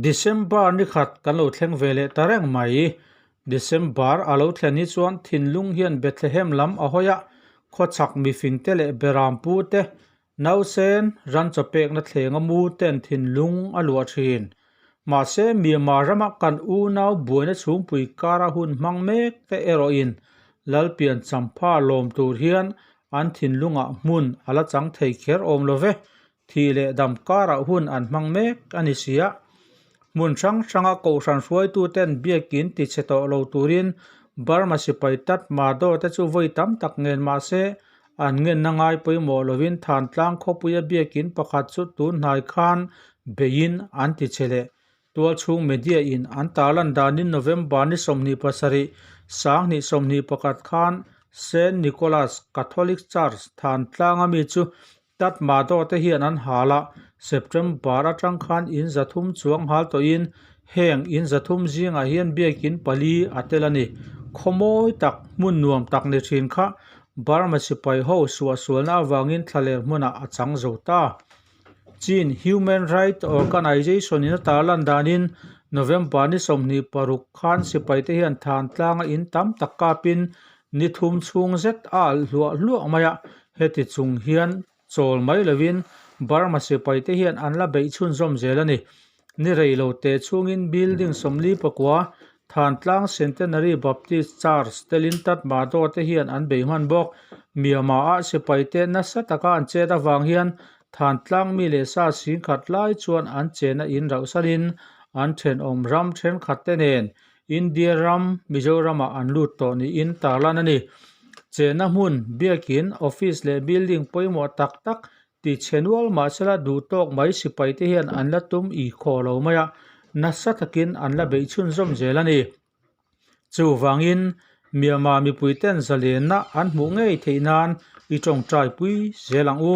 December ni khat kan lo thleng ve leh ta reng mai. December a lo thlen hi chuan thinlung hian Bethlehem lam a hawi a, khawchhak mifing te leh bera pu te, Nausen ranchaw pekna thlenga mu ten thinlung a luah thin. Mahse Myanmar rama kan unau buaina chhungpui kara hun hmang mek te erawhin Lalpian champha lawm tur hian an thinlunga hmun a la chang thei kher awm lo ve. Thih leh dam kara hun an hmang mek a ni sia. Hmun hrang hranga Kohhran hruaitu ten biakin ti chhe tawh lo turin Burma sipai Tatmadaw te chu vawi tam tak ngên mahse An ngenna ngai pawimawh lovin Thantlang khawpuia biakin pakhat chu tunhnai khan beiin an ti che leh. Tualchhung media in an tah lan danin November ni sawmhnih pasarih, Sanghnih sawmhnih pakhat khan Saint Nicholas Catholic Church Thantlanga mi chu Tatmadaw te hian an hal a, September atang khan in zathum chuang nghal tawhin Heng in zathum zingah hian biakin pali a tel a ni. Khaw mawi tak, hmun nuam tak ni thin kha Burma sipai ho suahsualna avangin thla leh hmunah a chang zo ta. Chin Human Right Organization in a tar lan danin November ni sawmhnih paruk khan sipai te hian than tlanga in tam tak kapin ni thum chhung zet a alh hluah hluah mai a, heti chung hian Chawl mai lovin Burma sipaite hian an la beih chhunzawm zel a ni. Ni rei lo teh chhungin building sawmli pakua, Thantlang Centenary Baptist Church te lin Tatmadaw te hian an bei hman bawk. Myanmar-a sipaite nasa taka an chet avang hian Thantlang mi leh sa sing khat lai chuan an chena in rauhsanin an thenawm ram thenkhat te nen India ram Mizoram ah an lut tawh niin tarlan a ni. Chenna hmun biakin office leh building pawimawh tak tak ti chhe nual mahsela duh tawk mai sipai te hian an la tum ih khawh lo mai a, nasa takin an la beih chhun zawm zel a ni. Chuvangin Myanmar mipuiten zalenna an hmuh ngei theih nan i tawngtai pui zel ang u.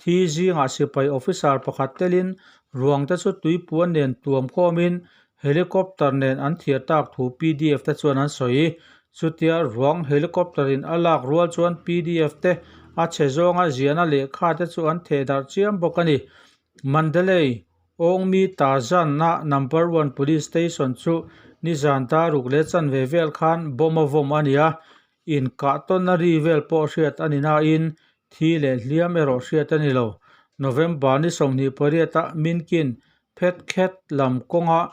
Thi zingah sipai officer pakhat telin ruangte chu tuipuan nen tuam khawmin helicopter nen an thiah tak thu pdf te chuan an sawi. Chutia ruang helicopter in a lak rual chuan pdf te, a chhe zawnga ziahna lehkha te chu an theh darh chiam bawk a ni. Mandalay, Awngmi ta zanna number one police station chu nizan daruk leh chanve vel khan bawm a vawm a nia, inkahtawnna ri vel pawh hriat a ni nain Thi leh hliam erawh hriat a ni lo. November ni sawmhnih pariata Min Kin phet khet lam kawnga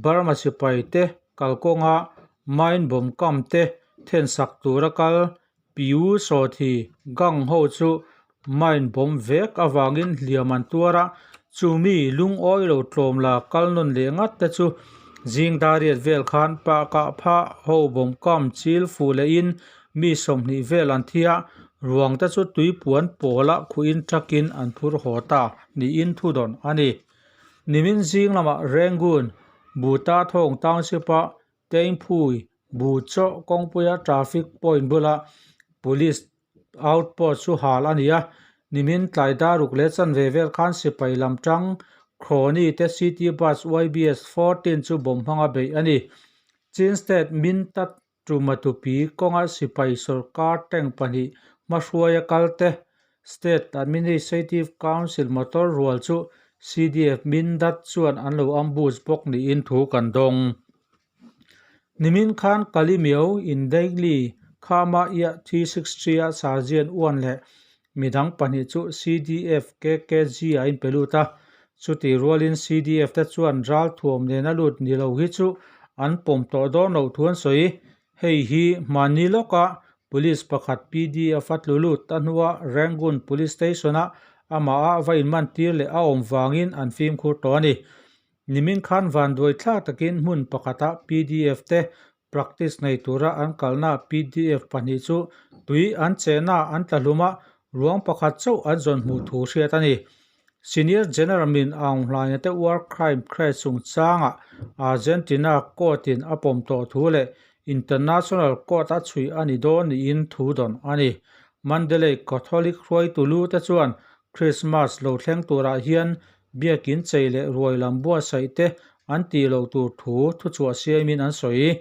Burma sipai te kal kawnga mine bawm kam te thensak tura kal Piu Sawthi gang ho chu mine bawm vek avangin hliam an tuar a, chumi lungawi lo tlawm la kal nawn leh ngat te chu Zingdariat vel khan Pah Kah Phah ho bawm kam chil fuh lehin Mi sawmhnih vel an thi a, ruang te chu tui puan pawla khuin truck in an phur haw ta niin thu dawn a ni. Nimin zing lamah Rangoon, Buta Thawng Township a Teingphui, Bu Chaw, Kawngpuia traffic point bula police outpost chu hal a ni a, nimin tlai daruk leh chanve vel khan sipai lam tang Crony te City Bus YBS fourteen chu bawm hmanga beih a ni. Chin State Min Tat Tuma tupi kawnga sipai sawrkar tank pahnih hmahruaia kalte, State Administrative Council motor rual chu CDF min dat chuan an lo ambush bawk niin thu kan dawng. Nimin khan Kalimiao in daily Khama Ia T-six three a Sergeant Uan leh mi dang pahnih chu CDF kkg a in pe lut a, chuti rualin CDF te chuan ral thuam nena lut ni lo hi chu an pawm tawh dawn loh thu an sawi. Hei hi mahni lawka police pakhat PDF a tlu lut a hnua Rangoon Police Station a amaha va inman tir leh a awm vangin an fimkhur tawh a ni. Nimin khan vanduai thla takin hmun pakhatah PDF te Practice nei tura an kalna pdf pahnih chu tui an chehna an tla hlum a, ruang pakhat chauh an zawn hmuh thu hriat a ni. Senior General Min Aung Hlainate War Crime Crash chungchanga Argentina Court-in a pawm tawh thu leh International Court a chhuih a ni dawn niin thu dawn a ni. Mandalay Catholic hruaitu lute chuan Krismas lo thleng turah hian biakin chei leh ruai lam buatsaih te an ti lo tur thu thuchhuah siamin an sawi i,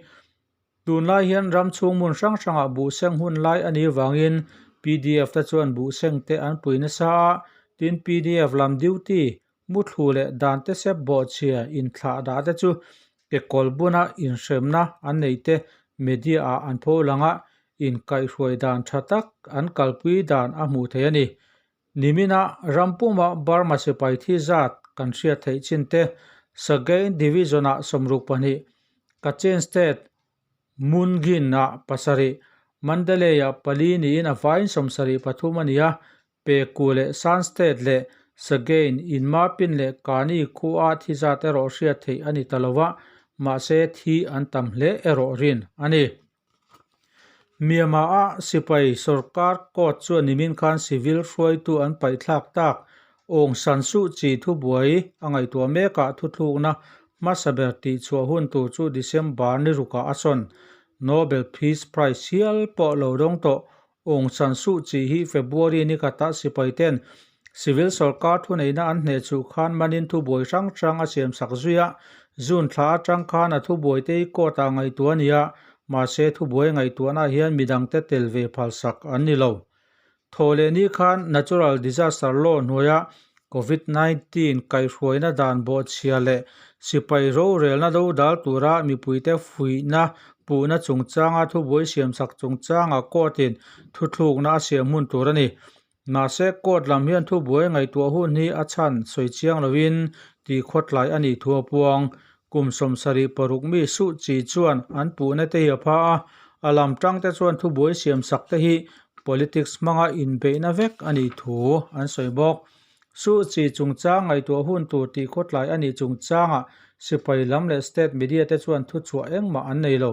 tunlai hian ram chhung hmun hrang hrangah buhseng hun lai a nih vangin pdf te chuan buhseng te an pui nasa a, tin pdf lam duty Muthlu leh dante sep bawh chhia inthlah dah te chu kekawl buna inhremna an nei te media-ah an pho lang a, inkaihhruai dan tha tak an kalpui dan a hmuh theih a ni. Nimina rampuma Burma sipai thi zat kan hriat theih chin te, Sagaing Division-ah sawmruk pahnih, Kachin State, Mun Ghin-ah pasarih, Mandalay-ah pali niin a vain sawmsarih pathum a ni a, Peku leh Sanstedt leh Sagein in Marpin leh Kani khuaa thi zat erawh hriat theih a ni ta lo a, mahse thi an tam hle erawh rin a ni. Myanmar-a sipai sorkar court chu a nimin khan civil hruaitu an paihthlak tak Aung San Suu Kyi thu buai a ngaihtuah mekah thuthlukna hmasa ber tihchhuah hun tur chu December ni rukah a sawn Nobel Peace Prize hial pawh lo dawng tawh Aung San Suu Kyi hi February ni khatah sipaiten Civil Sorkar thuneihna an hneh chuh khan manin thu buai hrang hrang a siam sak zui a, June thla atang khan a thu buaite hi court ah ngaihtuah a ni a, mahse thu buai ngaihtuahna ah hian midang te tel ve phalsak an ni lo. Thaw leh ni khan natural disaster law hnuaia Covid nineteen kaihhruaina dan bawhchhia leh sipai rorelna do dal tura mipuite fuihna puhna chungchanga thubuai siamsak chungchanga court in thuthlukna a siam hun tur a ni. Mahse, court lam hian thubuai ngaihtuah hun hi a chhan sawi chiang loin ti khawtlai a nih thu a puang. Kum sawm sarih paruk mi suh chi chuan an puhna te hi a pha a, a lam tang te chuan thubuai siam sak te hi politics hmanga inbeihna vek a nih thu an sawi bawk. Suh chi chungchang ngaihtuah hun tur tih khawtlai a nih chungchanga sipai lam leh state media te chuan thu chhuah engmah an nei lo.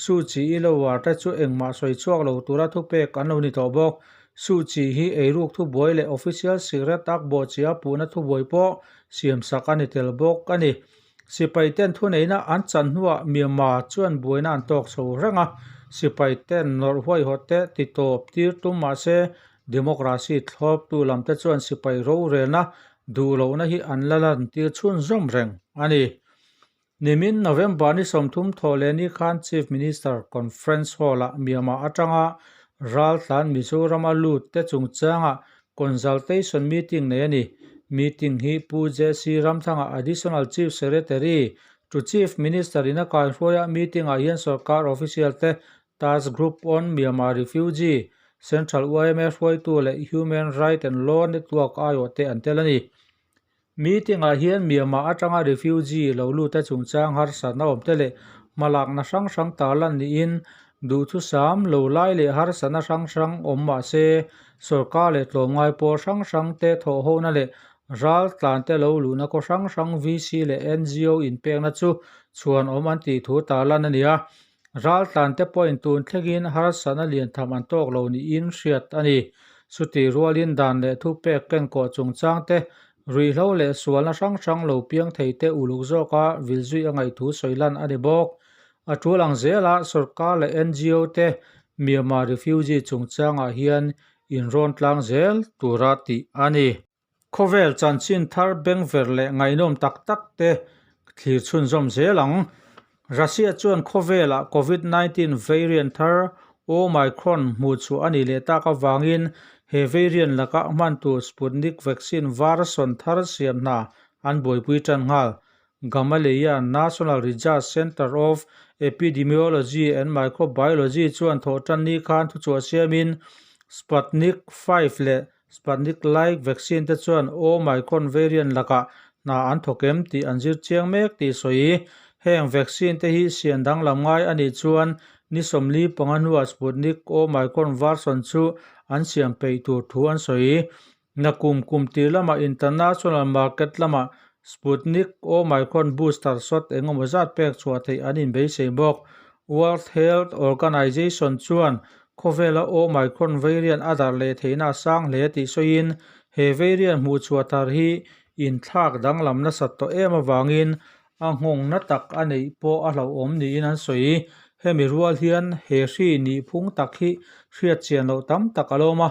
Suh chi i lo uar te chu engmah sawi chhuak lo tura thupek an lo ni tawh bawk. Su Chi hi eiruk thubuai leh official secret akbaw chia puhna thubuai pawh siamsak a ni tel bawk a ni. Sipaiten thuneihna an chan hnuah Myanmar chuan buaina an tawk chho reng a, sipaiten nawrh huaihawhte titawp tir tum mah se democracy thlawptu lamte chuan sipai rorelna duhlohna hi an la lantir chhun zawm reng a ni. Nimin November ni sawmthum thawh leh ni khan Chief Minister Conference Hall ah Myanmar atanga ral tlan Mizoram a lut te chung changa Consultation Meeting nei a ni. Meeting hi Pu JC Ramthanga Additional Chief Secretary, to Chief Minister in a kaihruai a, meeting ah hian sawrkar official te, Task Group on Myanmar Refugee, Central UIMA hruaitu leh Human Right and Law Network, aioh, te an tel a ni. Meeting ah hian Myanmar atanga refugee lo lut te chungchang harsatna awm te leh hmalakna hrang hrang tah lan niin duhthusam lo lai leh harsatna hrang hrang awm mahse sorkar leh tlawmngai pawl hrang hrang te thawhhona leh ral tlan te lo luhna kaw hrang hrang VC leh NGO inpekna chu chhuan awm an tih thu tah lan a ni a. Ral tlante pawhin tun thlengin harsatna lian tham an tawk lo niin hriat a ni. Chuti rualin dan leh thu pek ken kawh chungchang te, ruihhlo leh sualna hrang hrang lo piang thei te uluk zawk a vil zui a ngaihtu sawi lan a ni bawk. A ṭul ang zela sawrkar leh NGO te Myanmar refugee chungchangah hian inrawn tlang zel tura tih a ni. Khawvel chanchin thar beng ver leh ngaihnawm tak tak te thlir chhunzawm zel ang. Russia chuan khawvelah Covid nineteen variant thar Omicron hmuhchhuah a nih leh tak avangin he variant laka hman tur Sputnik vaccine var sawn thar siam hna an buaipui tan nghal. Gamaleya National Research Centre of Epidemiology and Microbiology chuan thawhtanni khan thuchhuah siamin Sputnik five leh Sputnik like vaccine te chuan Omicron variant laka hna an thaw kem tih an zir chiang mek tih sawi i, heng vaccine te hi sian danglam ngai a nih chuan ni sawmli panga hnuah Sputnik Omicron version chu an siam peih tur thu an sawi i, Nakum kum tir lama International Market lama Sputnik, Omicron booster shot engemaw zat pek chhuah theih an inbeisei bawk. World Health Organization chuan khawvela Omicron variant a darh leh theihna a sang hle a tih sawiin, he variant hmuh chhuah thar hi inthlak danglam nasa tawh em avangin a nghawngna tak a neih pawh a hlauhawm niin an sawi. Hemi rual hian he hri nih phung tak hi hriatchian loh tam tak a lawm a,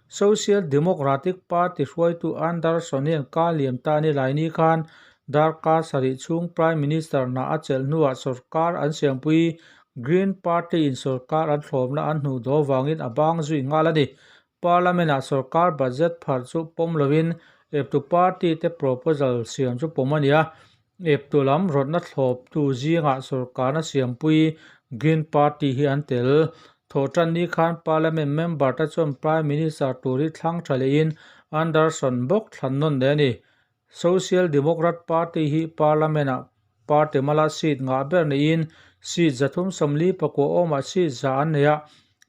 Social Democratic Party hruaitu Andersonian Ka Liam Ta ni Laini khan Darka sarih chhung Prime Minister hna a chelh hnuah sorkar an siampui Green Party in sorkar an thlawmna an hnu daw vangin a bang zui nghal a ni. Parliament ah sorkar budget pharh chu pawm lovin eptu party te proposal siam chu pawm a ni a, Eptu lam rawtna thlawptu zingah sawrkarna siampui Green Party hi an tel. Thaw tan ni khan Parliament member te chuan Prime Minister tur hi thlang tha lehin Anderson bawk thlan nawn leh a ni. Social Democrat Party hi Parliament ah party mala seat ngah ber neihin seat za thum sawmli pakua awmah seat za an nei a,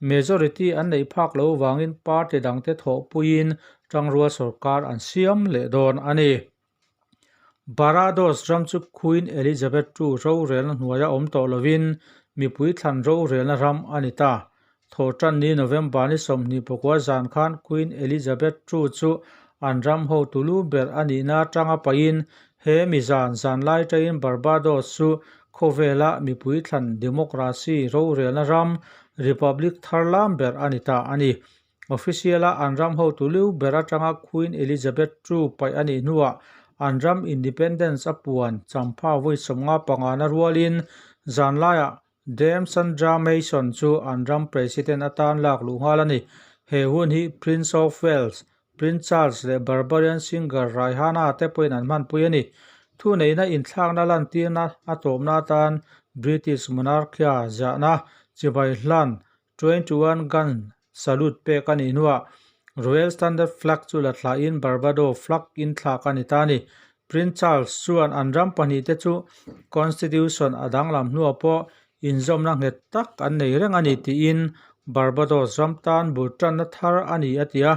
majority an neih phak loh vangin party dangte thawhpuiin tangrual sawrkar an siam leh dawn a ni. Barbados ram chu Queen Elizabeth ii rorelna hnuaia awm tawh lovin mipui thlan rorelna ram a ni ta. Thaw tanni November ni sawmhnih pakua zan khan Queen Elizabeth ii chu an ram ho tu lu ber a nihna atanga pahin he mizan zanlai taiin Barbados chu khawvela mipui thlan democracy rorelna ram, republic, thar lam ber a ni ta a ni. Official a an ram hotu liu ber atanga Queen Elizabeth ii paih a nih hnuah an ram Independence a puan champha vawi sawmnga pangan a rualin zan laiah Dame Sandra Mason chu an ram President a tan lak luh nghal a ni. He hun hi Prince of Wales, Prince Charles leh Barbarian singer Rihanna te pawhin an hmanpui a ni. Thuneihna inthlakna lantirna a tlawmna atan British Monarchy-a ziahna chibai hlan Twenty one gun salute pek ka nih hnuah Royal Standard Flag chu la thlahin Barbado Flag in thlak a ni ta a ni. Prince Charles chuan an ram pahnih te chu Constitution a danglam hnuah pawh inzawmna nghet tak an nei reng a ni tiin Barbados ram tan bul tanna thar a ni a ti a.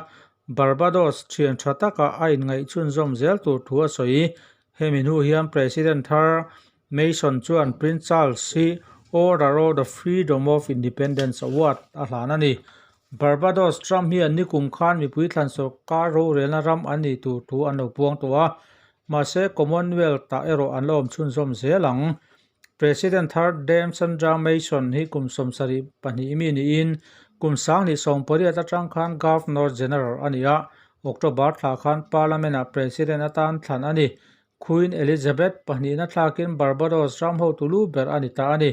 Barbados thian tha taka a inngaihchhunzawm zel tur thu a sawi. Hemi hnu hian President thar Mason chuan Prince Charles hi Order of the Freedom of Independence Award a hlan a ni. Barbados Trump hian nikum khan mipui thlan sorkar rorelna ram an nih tur thu an lo puang tawh a, mahse Commonwealth-ah erawh an la awm chhunzawm zel ang. President thar Dame Sandra Mason hi kum sawmsarih pahnih mi niin kum sanghnih sawmpariat atang khan Governor General a ni a, October thla khan Parliament-ah President atan thlan a ni. Khuin Elizabeth pahnihna thlakin Barbados ram ho tu lu ber a ni ta a ni.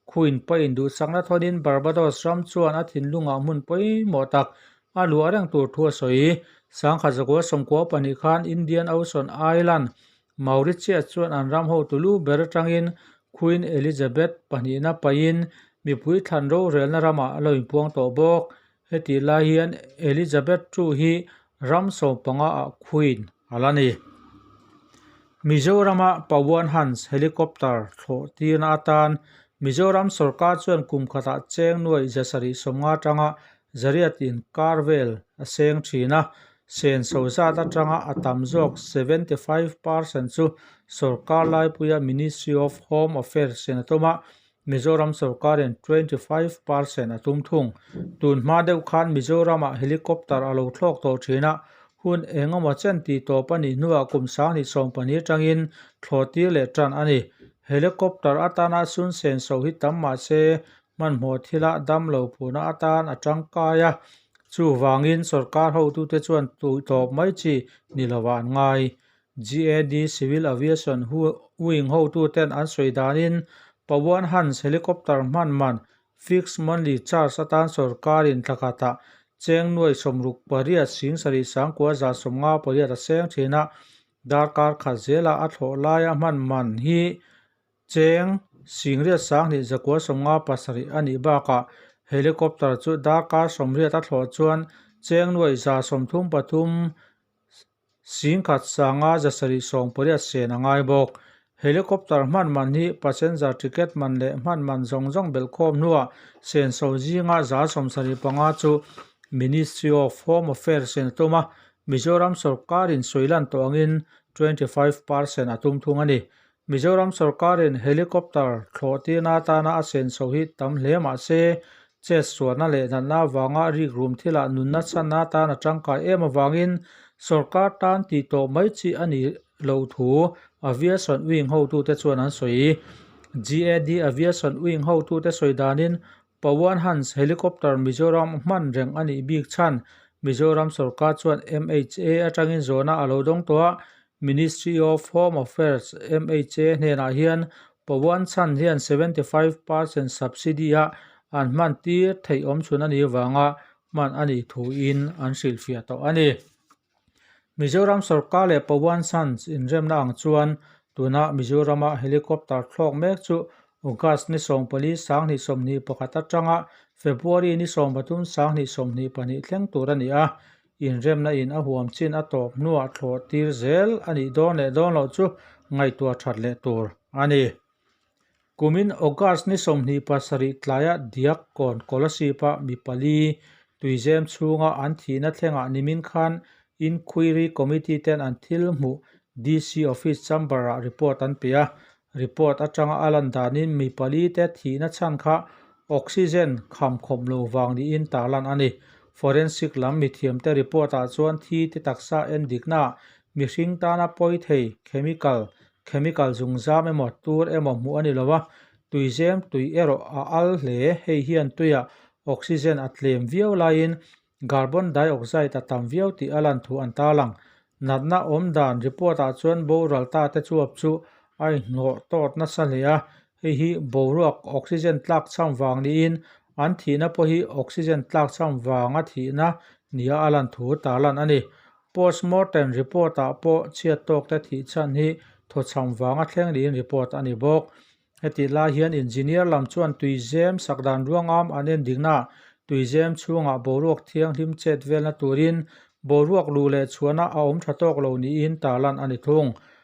Khuin paw induhchakna thawnin Barbados ram chuan a thinlungah hmun pawimawh tak a luah reng tur thu a sawi. Sangkhat zakua sawmkua pahnih khan Indian Ocean Island, Mauritius chuan an ram ho tu lu ber atangin Khuin Elizabeth pahnihna pahin mipui thlan rorelna ramah a lo inpuang tawh bawk. Heti lai hian Elizabeth chu hi ram sawm panga ah Queen a la ni. Mizorama Pavuan Hans helicopter thlawh tirna atan Mizoram sorkar chuan kum khatah cheng nuai za sarih sawm nga tanga zariat in kar vel a seng thin a, sen so zat atanga a tam zawk seventy five percent chu sorkar laipuia Ministry of Home Affairs Senatawma Mizoram sawrkarin twenty five per cent a tum thung. Tun hma deuh khan Mizoramah helicopter a lo thlawk tawh thin a, hun eng emaw chen tih tawp a nih hnuah kum sang ni sawmpahnih atangin thlawh tir leh tan a ni. Helicopter atana sun sen so hi tam mah se hmanhmawh thila dam lo phuna atan a tangkai a, chuvangin sawrkar hotute chuan tuihtawp mai chi ni lovah an ngai. GAD Civil Aviation wing hotu ten an sawi dan in Pawan Hans helicopter hman man fixed monthly charge atan sawrkar in thla khat a cheng nuai sawm ruk pariat Sing sarih sangkua zan sawm nga pariat a seng thin a darkar khat zel a a thlawh lai a hman man hi cheng sing riat sang hnih zakua sawm nga pasarih a nih bak a helicopter chu darkar sawm riat a thlawh chuan cheng nuai za sawm thum pathum Sing khat sanga zasarih sawng pariat sen a ngai bawk. Helicopter hman man hi passenger ticket man leh hman man zawng zawng belh khawm hnuah sen so zinga zal sawmsarih panga chu Ministry of Home Affairs in a tum a, Mizoram sawrkarin sawilan tawh angin twenty five percent a tum thung a ni. Mizoram sorkarin helicopter thlawh tirna atana a sen chho hi tam hle mah se, chet suahna leh natna avanga rikrum thilah nun nachanna atana tangkai em avangin sorkar tan tih tawh mai chi a nih loh thu aviation wing hotute chuan an sawi. GAD Aviation Wing hotute sawi danin Pawan Hans helicopter Mizoram hman reng a nih bik chhan Mizoram sorkar chuan MHA atangin zawhna a lo dawng tawh a, Ministry of Home Affairs, MHA, hnenah hian Pawan chhan hian seventy five per cent subsidy ah an hman tir theih awmchhun a nih avanga hman a nih thuin an hrilhfiah tawh a ni. Mizoram sawrkar leh Pawan Sons inremna ang chuan tuna Mizorama helicopter thlawk mek chu August ni sawmpali sanghnih sawmhnih pakhat atanga February ni sawmpathum sanghnih sawmhnih pahnih thleng tur a ni a. Inremna in a huam chin a tawp hnuah thlawh tir zel a nih dawn leh dawn loh chu ngaihtuah that leh tur a ni. Kumin August ni sawmhnih pasarih tlaiah Diakon Kolasip-a mi pali tuizem chhunga an thihna thlengah nimin khan Inquiry Committee ten an thil hmuh DC Office Chamber-ah report an pe a. Report atanga a lan danin mi pali te thihna chhan kha oxygen kham khawm lo vang niin tarlan a ni. Forensic lam mithiam te report-ah chuan thi te taksa en diknaah mihring tana pawi thei, chemical, Chemical zungzam emaw tur emaw hmuh a ni lo a, tuizem tui erawh a al hle. Hei hian tuiah oxygen a tlem viau laiin carbon dioxide a tam viau tih a lanthuh an tarl ang. Natna awm dan report-ah chuan boral ta te chuap chu a inhlawh tawt nasa hle a, Hei hi boruak oxygen tlak chham vang niin an thihna pawh hi oxygen tlak chham vanga thihna nia a lan thu ta lan a ni. Post mortem report-ah pawh chhiat tawkte thih chhan hi thaw chham vanga thleng niin report a ni bawk. Heti lai hian engineer lam chuan tuizem sak dan ruangam an en dingna tuizem chhungah boruak thianghlim chet velna turin boruak luh leh chhuahna a awm tha tawk lo niin ta lan a ni thung.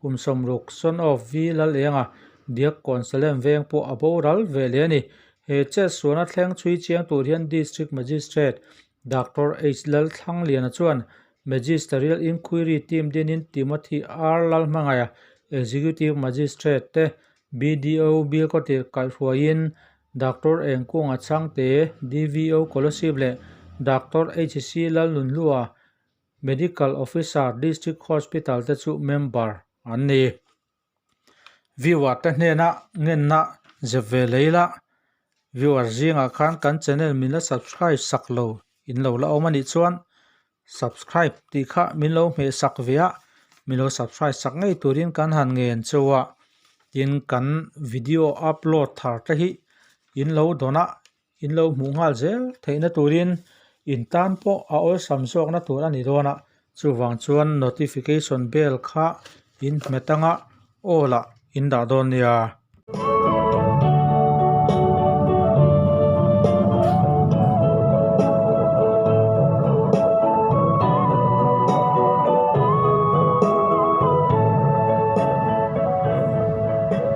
Kum sawmruk son off vi lal enga diak kawn sa lem veng pawh a boral ve leh a ni. He chet sualna thleng chhui chiang tur hian District Magistrate Doctor H Lal Thlangliana chuan Magisterial Inquiry Team dinin Timothy R Lalhmangaia Executive Magistrate te, BDO Bilkaw tirh kaihhruaiin Doctor Engkunga Changte, DVO Kolasib leh Doctor HC Lalnunhlua Medical Officer District Hospital te chu member an ni. Viewer te hnena ngenna zep ve lei la, viewer zingah khan kan channel min la subscribe sak lo in lo la awm a nih chuan subscribe tih kha min lo hmeh sak ve a, min lo subscribe sak ngei turin kan han ngen che a, tin kan video upload thar te hi in lo dawn a, In lo hmuh nghal zel theihna turin in tan pawh a awlsam zawkna tur a ni dawn a, chuvang chuan notification bell kha in hmet anga all ah in dah dawn nia.